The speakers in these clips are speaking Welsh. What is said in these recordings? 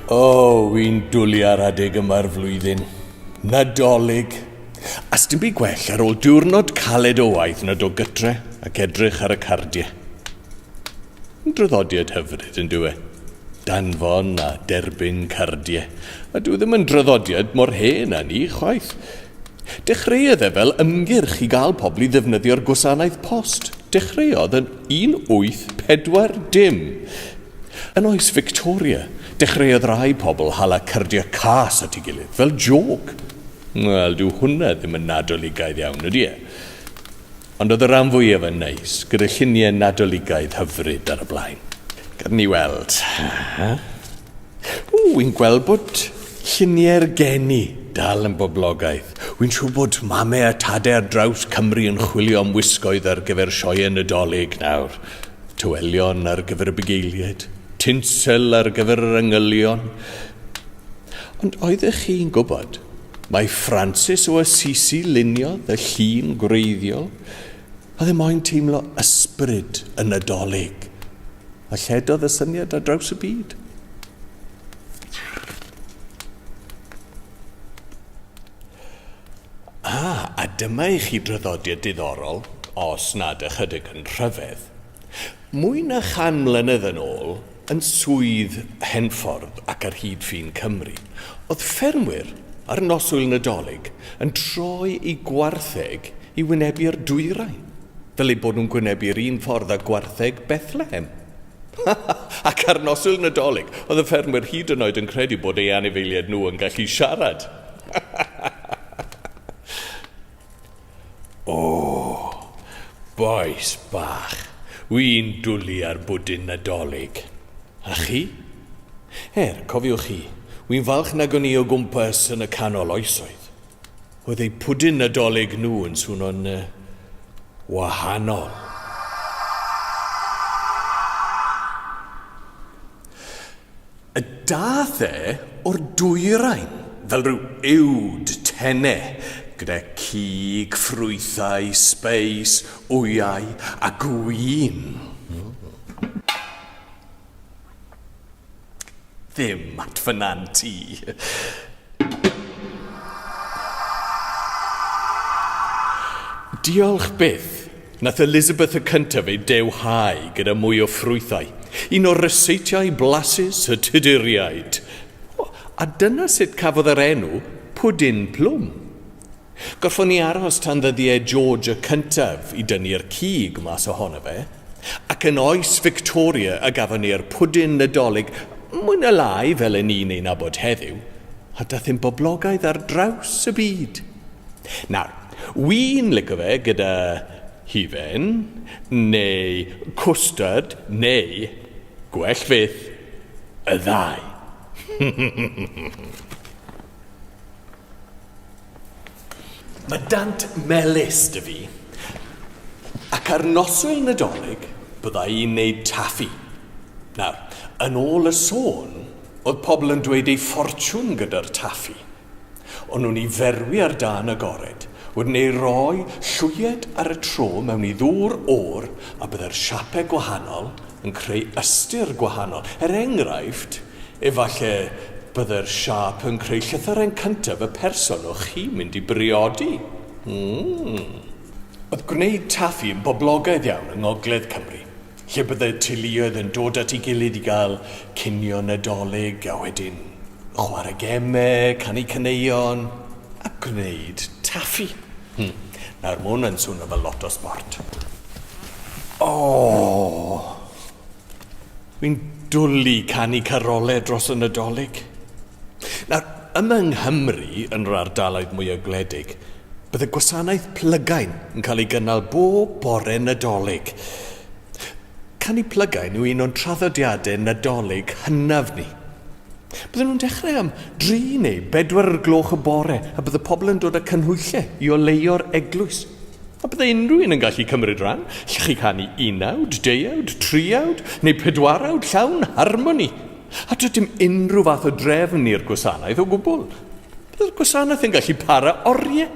O, oh, wy'n dwlu ar adeg yma'r flwyddyn. Nadolig. A sdim byd gwell ar ôl diwrnod caled o waith nad o gytre ac edrych ar y cardiau. Draddodiad hyfryd, yn dyw e? Danfon a derbyn cardiau. A dyw e ddim yn draddodiad mor hen â ni, chwaith. Dechreuodd e fel ymgyrch i gael pobl i ddefnyddio'r gwasanaeth post. Dechreuodd yn 1840. Yn oes Victoria, dechreuodd rai pobl hala cardiau cas at ei gilydd, fel jôc. Wel, dyw hwnna ddim yn Nadoligaidd iawn, ydy e? Ond oedd y ran fwyaf yn neis, gyda lluniau Nadoligaidd hyfryd ar y blaen. Gad ni weld. Ww, wi'n gweld bod lluniau'r geni dal yn boblogaidd. Wi'n siŵr bod mame a tade ar draws Cymru yn chwilio am wisgoedd ar gyfer sioeau Nadolig nawr. Tywelion ar gyfer y bugeiliaid, tinsel ar gyfer yr angylion. Ond oeddech chi'n gwybod Mae Francis o Assisi luniodd y llun gwreiddiol a ddim moyn teimlo ysbryd y Nadolig, a lledodd y syniad ar draws y byd. A, a dyma i chi draddodiad diddorol, os nad ychydig yn rhyfedd. Mwy na chan mlynedd yn ôl, yn Swydd Henffordd ac ar hyd ffin Cymru, oedd ffermwyr ar noswyl Nadolig yn troi eu gwartheg i wynebu'r dwyrain, fel eu bod nhw'n gwynebu'r un ffordd â gwartheg Bethlehem. Ac ar noswyl Nadolig, oedd y ffermwyr hyd yn oed yn credu bod eu anifeiliaid nhw yn gallu siarad! O! Bois bach, wi'n dwli ar bwdin Nadolig. A chi? Er, cofiwch chi, wi'n falch nag o'n i o gwmpas yn y canol oesoedd. Oedd eu pwdin Nadolig nhw yn swno'n yy wahanol. A daeth e o'r dwyrain fel rhyw uwd tene, gyda cig, ffrwythau, sbeis, wyau a gwin. Ddim at fy nant i. Diolch byth. Nath Elizabeth y cyntaf ei dewhau gyda mwy o ffrwythau, un o'r ryseitiau blasus y Tuduriaid. O, a dyna sut cafodd yr enw Pwdin Plwm. Gorffon ni aros tan ddyddiau George y cyntaf i dynnu'r cig mas ohono fe, ac yn oes Victoria y gafon ni'r pwdin Nadolig, mwy na lai fel 'yn ni'n ei nabod heddiw, a dath e'n boblogaidd ar draws y byd. Nawr, wi'n lico fe gyda hufen, neu cwstard, neu, gwell fyth, y ddau. Mae dant melys 'da fi, ac ar noswyl Nadolig bydda i'n neud taffi. Nawr, yn ôl y sôn, oedd pobl yn dweud eu ffortiwn gyda'r taffi. Ond nhw'n ei ferwi ar dan agored, wedyn ei roi llwyed ar y tro mewn i ddŵr oer a byddai'r siapau gwahanol yn creu ystyr gwahanol. Er enghraifft, efallai byddai'r siâp yn creu llythyren cyntaf y person o'ch chi'n mynd i briodi. Mm. Oedd gwneud taffi yn boblogaidd iawn yng Ngogledd Cymru. lle byddai'r teuluoedd yn dod at ei gilydd i gael cinio Nadolig a wedyn chwarae gemau, canu caneuon a gwneud taffi. Hmm, nawr mae hwn yn swnio fel lot o sbort. O! Fi'n dwlu canu carolau dros y Nadolig. Nawr, Yma yng Nghymru, yn yr ardaloedd mwyaf gwledig, bydd y gwasanaeth plygain yn cael ei gynnal bob bore Nadolig. Canu plygain yw un o'n traddodiadau Nadolig hynaf ni. Bydden nhw'n dechrau am dri neu bedwar o'r gloch y bore a bydd y pobl yn dod â canhwyllau i oleuo'r eglwys. A byddai unrhyw un yn gallu cymryd rhan, allwch chi canu unawd, deuawd, triawd neu pedwarawd llawn harmoni. A does dim unrhyw fath o drefn i'r gwasanaeth o gwbl. Byddai'r gwasanaeth yn gallu para oriau.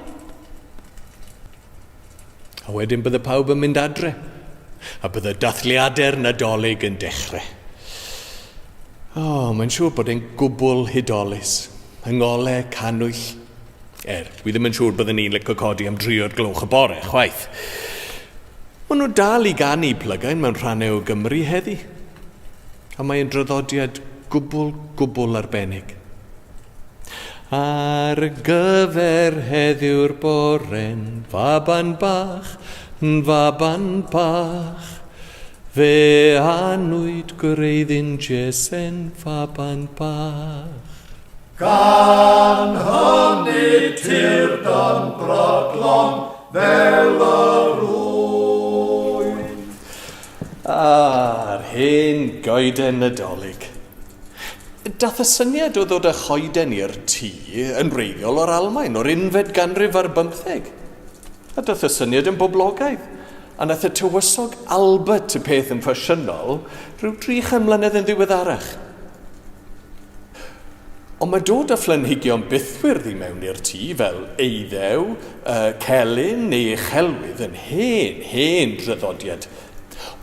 A wedyn bydde pawb yn mynd adre, a bydde dathliadau'r Nadolig yn dechrau. O, oh, mae'n siŵr bod e'n gwbl hudolus, yng ngolau cannwyll, Er, wi ddim yn siŵr bydden i'n lico codi am dri o'r gloch y bore, chwaith. Maen nhw dal i ganu plygain mewn rhannau o Gymru heddi. A mae'n draddodiad gwbl, gwbl arbennig. Ar gyfer heddiw'r bore'n faban bach, yn faban bach. Fe anwyd gwreiddyn Jese'n faban bach. Gan honni tir dan broglon fel yr ŵyn. A'r hen goeden Nadolig. Dath y syniad o ddod â choeden i'r tŷ yn wreiddiol o'r Almaen o'r unfed ganrif ar bymtheg. A dath y syniad yn boblogaidd, a nath y tywysog Albert y peth yn ffasiynol rhyw dri chan mlynedd yn ddiweddarach. Ond mae dod â phlanhigion bythwyrdd i mewn i'r tŷ, fel eiddew, y celyn neu uchelwydd, yn hen, hen draddodiad.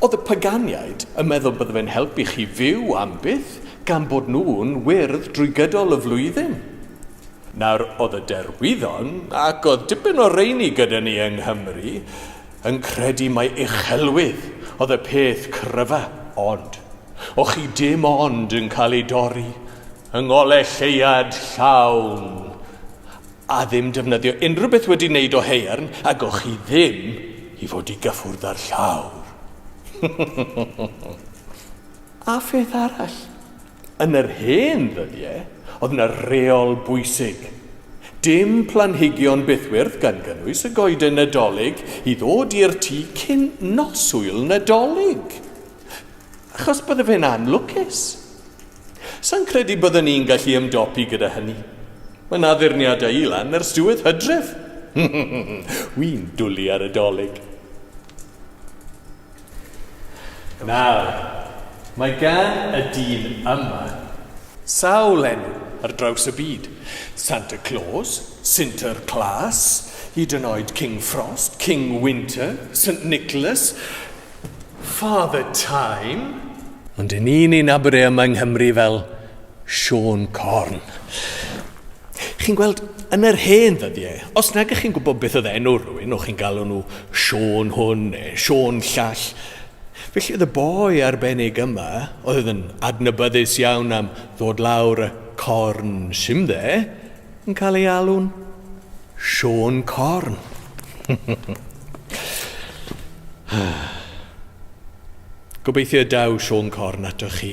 Oedd y paganiaid yn meddwl bydde fe'n helpu chi fyw am byth, gan bod nhw'n wyrdd drwy gydol y flwyddyn. Nawr, oedd y derwyddon, ac oedd dipyn o reini gyda ni yng Nghymru, yn credu mai uchelwydd oedd y peth cryfa, ond, o' chi dim ond yn cael ei dorri yng ngole lleuad llawn, a ddim defnyddio unrhyw beth wedi wneud o haearn, ag o' chi ddim i fod i gyffwrdd â'r llawr. A pheth arall, Yn yr hen ddyddie, oedd 'na reol bwysig. Dim planhigion bythwyrdd gan gynnwys y goeden Nadolig i ddod i'r tŷ cyn nos Ŵyl Nadolig. Achos bydde fe'n anlwcus. Sa'n credu bydden ni'n gallu ymdopi gyda hynny. Mae 'na addurniadau i lan ers diwedd Hydref. Wi'n dwli ar y Dolig. Nawr, mae gan y dyn yma sawl enw ar draws y byd, Santa Claus, Sinter Klaas, hyd yn oed King Frost, King Winter, Saint Nicholas, Father Time. Ond 'yn ni'n ei nabod e yma yng Nghymru fel Siôn Corn. Chi'n gweld, yn yr hen ddyddiau, os nag ych chi'n gwybod beth oedd enw rhywun, o'ch chi'n galw nhw Siôn hwn neu Siôn llall. Felly oedd y boi arbennig yma, oedd yn adnabyddus iawn am ddod lawr y corn simdde, yn cael ei alw'n Siôn Corn. Gobeithio y daw Siôn Corn atoch chi.